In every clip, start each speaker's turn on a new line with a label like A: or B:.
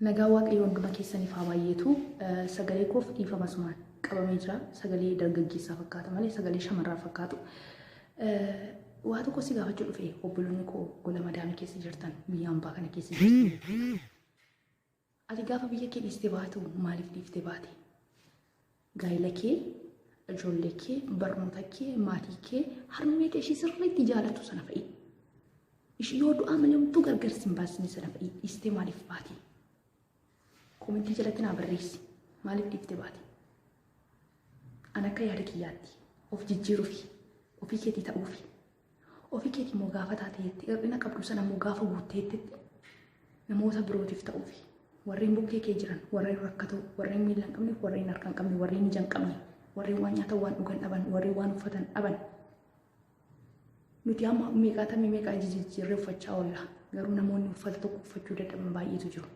A: Nagaan waaqayyoo hunduma keessaniif haa baay'eetu. Sagalee koof dhiifama asumaan qabamee jira. Sagalee dargaggeessaa fakkaata malee sagalee shamarraa fakkaatu. Waa tokko si gaafachuu dhufe obboloonni koo gola madaamii keessa jirtan biyya ambaa kana keessa jirtan. Ati gaafa biyya kee dhiiste baatu maaliif dhiifte baate? Gaa'ila kee, ijoollee kee, barnoota kee, maatii kee, harmee kee ishii sirriitti jaalattu sana fa'i. Ishii yoo du'aa malee homtuu gargar sin baasne sana fa'i dhiistee maaliif baate? Komentii jalatti naa barreessi. Maaliif dhiifte baate? An akka yaada kiyyaatti of jijjiiruufi ofii keetii ta'uufi Ofii keetii immoo gaafa taateetti hir'ina qabdu sana immoo gaafa guutteetti namoota birootiif ta'uufi warreen bukkee kee jiran warreen rakkatoo warreen miila hin qabne warreen harka hin qabne warreen ija hin qabne warreen waan nyaatan waan dhugan dhaban warreen waan uffatan dhaban nuti amma meeqaa tamii meeqaa ija jijjiirree uffachaa oolla garuu namoonni uffata tokko uffachuu dadhaban baay'eetu jiru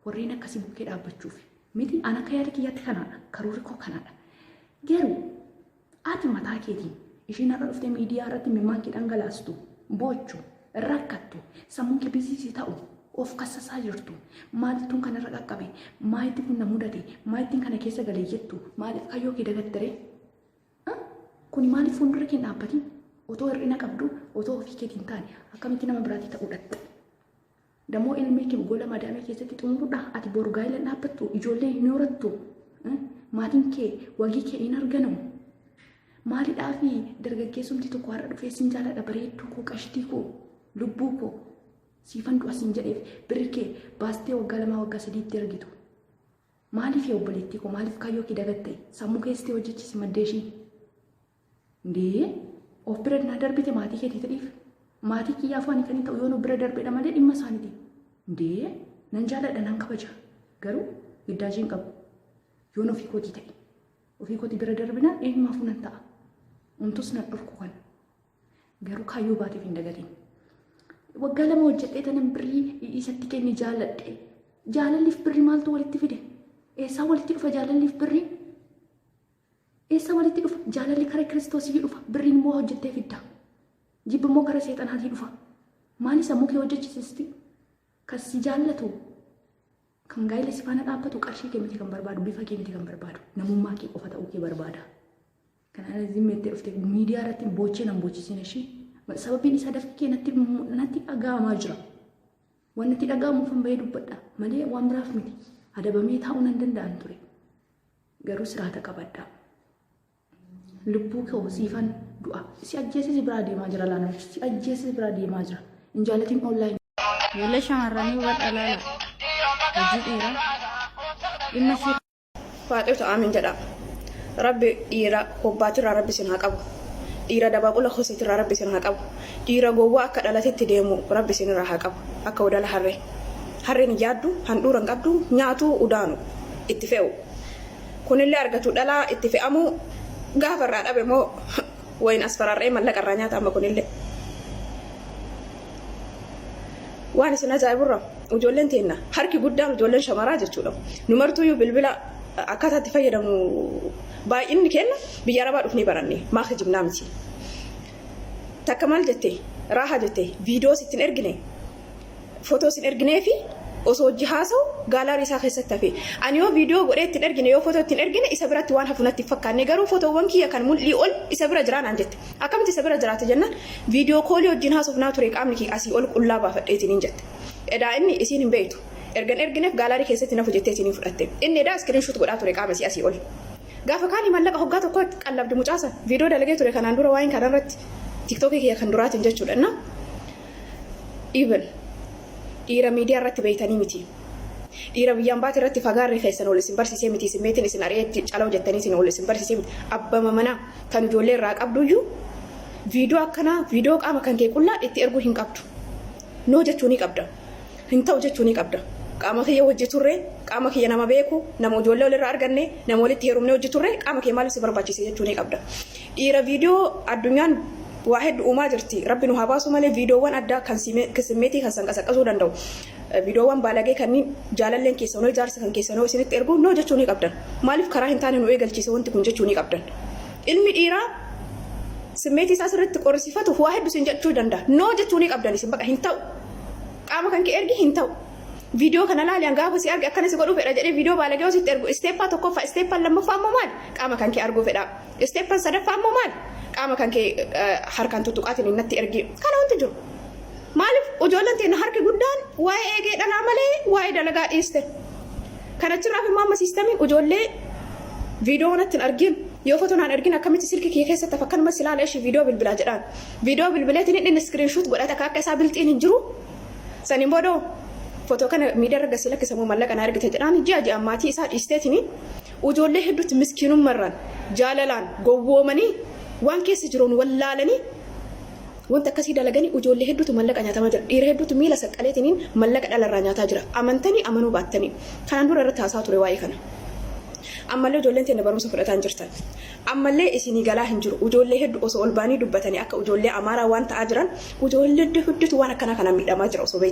A: warreen akkasii bukkee dhaabbachuuf miti an akka yaada kiyyaatti kanaadha karoorri koo kanaadha garuu Ati mataa keetiin isheen har'a dhuftee miidiyaa irratti imimmaan kee dhangalaastu, boochu, rakkattu, sammuun kee biziisii ta'u, of kassasaa jirtu, maalituun kana irra qaqqabe, maalitti kun na mudate, maalittiin kana keessa galee jettu, maaliif kayyoo kee dagattere? Kuni maaliif fuuldura kee dhaabbatiin? Otoo hir'ina qabdu, otoo ofii keetiin taane akkamitti nama biraatii ta'uu dhatte? Damoo ilmii kee gola madaamii keessatti xumurudha. Ati boru gaa'ila dhaabbattu ijoollee hin horattu. Maatiin kee wagii kee hin arganamu. Maalidhaa fi dargaggeessumti tokko har'a dhufee sin jaaladha bareedduu koo qashtii koo lubbuu koo siifan du'a sin jedheef birri kee baastee waggaa lamaa waggaa sadiitti argitu. Maaliif yaa obboleettii koo maaliif kaayyoo kee dagatte sammuu keessatti hojjechisi maddeeshii. Ndee of bira naa darbite maatii keetii ta'eef maatii kiyyaafuu ani kan hin ta'u yoon of bira darbedha malee dhimma isaaniiti. Ndee nan jaaladha nan kabaja garuu giddaajii hin qabu yoon ofii kootii ta'e ofii kootii bira darbina eenyumaafuu nan ta'a. Umtus nan dhorku kan garuu kaayyoo baateef hin dagatiin. Waggaa lama hojjedhee tanan birrii isatti kenne jaaladhe. Jaalalliif birri maaltu walitti fide? Eessaa walitti dhufa jaalalliif birri? Eessaa walitti dhufa? Jaalalli kara Kiristoosiyyuu dhufa. Birriin immoo waa hojjettee fidda. Jibbi immoo kara seexanaatii dhufa. Maali sammuu kee hojjechisisti? Kan si jaallatu, kan gaa'ila si faana dhaabbatu qarshii kee miti kan barbaadu, bifa kee miti kan barbaadu, namummaa kee qofa ta'uu kee barbaada. Kana zimmi jettee dhufte miidiyaa irratti boochee nan boochisina ishii. Sababiin isaa dafqi kee natti natti dhaga'amaa jira. Waan natti dhaga'amuuf hin bahee dubbadha malee waan biraaf miti. Adabamee taa'uu nan danda'an ture. garuu siraata qabadhaa lubbuu koo siifan du'a si ajjeesee si biraa deemaa jira laanaa si ajjeesee si biraa deemaa jira hin jaalatiin online Ijoollee shamarranii
B: hubadha laala. Hojii dhiiraa. Dhimma ishee Faaxeetu aamin
C: jedha. Rabbi dhiira hobbaatirraa rabbi sin haa qabu. Dhiira dabaaqula hoseetirraa rabbi sin haa qabu. Dhiira gowwaa akka dhalatetti deemu rabbi sinirraa haa qabu. Akka udala harree. Harreen hin yaaddu, handhuura hin qabdu, nyaatu udaanu. itti fe'u. Kunillee argatu dhalaa itti fe'amu gaafa irraa dhabe moo wayin asfarar'ee mallaqa irraa nyaata amma kunillee. Waan isin ajaa'iburra ijoolleen teenna harki guddaan ijoolleen shamaraa jechuudha. Nu martuuyyuu bilbila akkaataa itti fayyadamu baay'inni keenna biyya arabaa dhufnee baranne maa kijibnaa miti. Takka maal jette raaha jette viidiyoo sittin ergine fotoo isin erginee fi osoo hojii haasa'u gaalaarii isaa keessatti hafe. Ani yoo viidiyoo godhee ittiin ergine yoo fotoo ittiin ergine isa biratti waan hafu natti hin fakkaanne garuu fotoowwan kiyya kan mul'ii ol isa bira jiraa naan jette. Akkamitti isa bira jiraata jennaan viidiyoo koolii wajjin haasofnaa ture qaamni kiyya asii ol qullaa baafadhee isiniin jette. Edaa inni isiin hin beektu. Ergan ergineef gaalaarii keessatti hin hafu jettee isiniin fudhatte. Inni edaa iskiriin shuut godhaa ture qaama isii asii ol. Gaafa kaanii mallaqa hoggaa tokkoo itti qallabdi mucaa san. Viidiyoo dalagee ture kanaan dura waa'een kanarratti tiktookii kiyya kan duraatiin jechuudha. Innaa Even dhiira miidiyaa irratti beeytanii miti. Dhiira biyyaan baate irratti fagaarri keessan ol isin barsiisee miti. Isin meetiin isin ari'eetti caloo jettanii isin ol isin barsiisee miti. Abbama manaa kan ijoollee irraa qabduyyuu viidiyoo akkanaa viidiyoo qaama kan kee qullaa itti erguu hin qabdu. Noo jechuu ni qabda. Hin ta'u jechuu ni qabda. Qaama kiyya hojii turre, qaama kiyya nama beeku, nama ijoollee olirraa arganne, nama walitti heerumne hojii turre qaama kee maaliif si barbaachise jechuu ni qabda. Dhiira video addunyaan waa heddu uumaa jirti rabbi nu haa baasu malee videowwan addaa kan simmeetii keessan qasaqasuu danda'u videowwan baalagee kanniin jaalalleen keessan hoo jaarsi kan keessan hoo isinitti ergu noo jechuu ni qabdan maaliif karaa hin taane nu eegalchiise wanti kun jechuu ni qabdan ilmi dhiiraa simmeetii isaa sirriitti qorrisiifatuuf waa heddu isin jechuu danda'a noo jechuu ni qabdan isin baqa hin ta'u qaama kan kee ergi hin ta'u viidiyoo kana laali an gaafa si arge akkana si godhuu fedha jedhee viidiyoo baalagee hoo sitti ergu isteeppaa tokkoffaa isteeppaan lammaffaa immoo maali qaama kan kee arguu fedhaa Isteeppan sadaffaa immoo maali? Qaama kan kee harkaan tuttuqaatiin natti ergi. Kana wanti jiru. Maaliif ijoolleen teenna harki guddaan waa'ee eegee dhalaa malee waa'ee dalagaa dhiiste. Kan achirraaf immoo amma siistamiin ijoollee viidiyoo natti hin argin yoo foto naan ergin akkamitti silki kiyya keessatti hafa kanuma silaala ishii viidiyoo bilbilaa jedhaan. Viidiyoo bilbileetiin hidhin iskiriinshuut godhata akka akka isaa bilxiin hin jiru. Saniin boodoo foto kana miidiyaa irra gasii lakkisamuu mallaqa na ergite jedhaan ji'a ji'aan maatii isaa dhiisteetini Ujoollee hedduutti miskiinummarraan, jaalalaan, gowwoomanii waan keessa jiroon wallaalanii wanta akkasii dalaganii ujoollee hedduutu mallaqa nyaatamaa jira. Dhiira hedduutu miila saqqaleetiniin mallaqa dhalarraa nyaataa jira. Amantanii amanuu baattanii. Kanaan dura irratti haasawa ture waa'ee kana. Ammallee ujoolleen teenna barumsa fudhataa hin jirtan. Ammallee isinii galaa hin jiru. Ujoollee heddu osoo ol ba'anii dubbatanii akka ujoollee Amaaraa waan ta'aa jiran ujoollee hedduutu waan akkanaa kanaan miidhamaa jira osoo beeytanii.